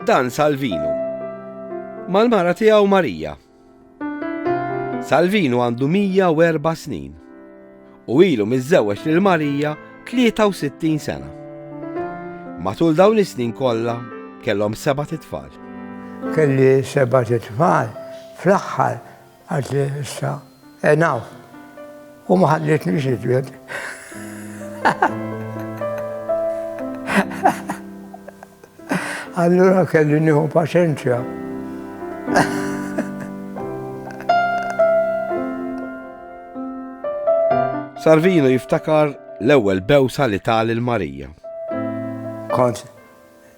Dan Salvinu. Mal-mara tiegħu Marija. Salvinu għandu 104 snin u ilu miżżewweġ lil Marija 63 sena. Matul dawn is-snin kollha kellhom seba' titfal. Kelli seba' titfal fl-aħħar Għad li issa, enaw, u ma ħallitni xidwed. Allura kelli nieħu paċenzja. Sarvino jiftakar l-ewwel bewsa li tal il-Marija. Kont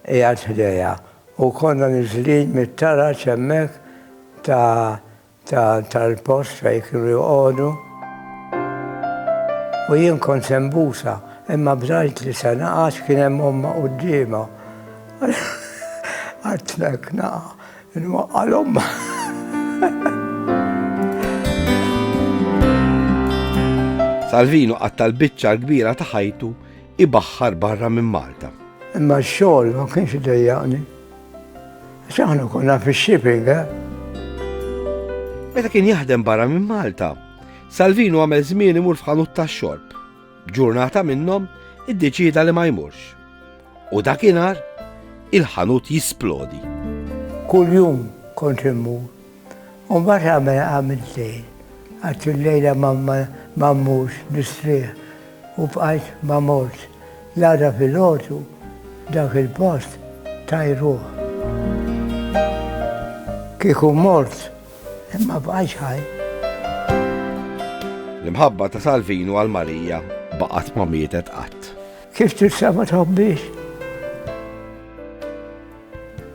qiegħed ħdejha u konna niżlin mit-taraġ hemmhekk ta' ta' tal-post fejn kienu joqogħdu u jien kont se nbusha imma bżajt li se naqa' għax kien hemm ommha quddiemha. Qatt hekk naqa' nwaqqa' 'l ommha. Salvino qatta' l-biċċa l-kbira ta' ħajtu ibaħħar barra minn Malta. Imma x-xogħol ma kienx idejjaqni. Għax aħna konna fix-shipping, eh? Meta kien jaħdem barra minn Malta, Salvino għamel żmien imur f'ħanut tax-xorb. Ġurnata minnhom iddeċida li ma jmurx. U dakinhar il-ħanut jisplodi. Kull jum kont immur U mbagħad għamel għamilt lejl. Għadt il-lejla ma mmurx nistrieħ u bqajt ma mortx. L-għada filgħodu dak il-post tajruh. Kieku mort ma bqajtx ħaj. L-imħabba ta' Salvinu għal Marija baqgħet ma mietet qatt. Kif tista' ma tħobbiex?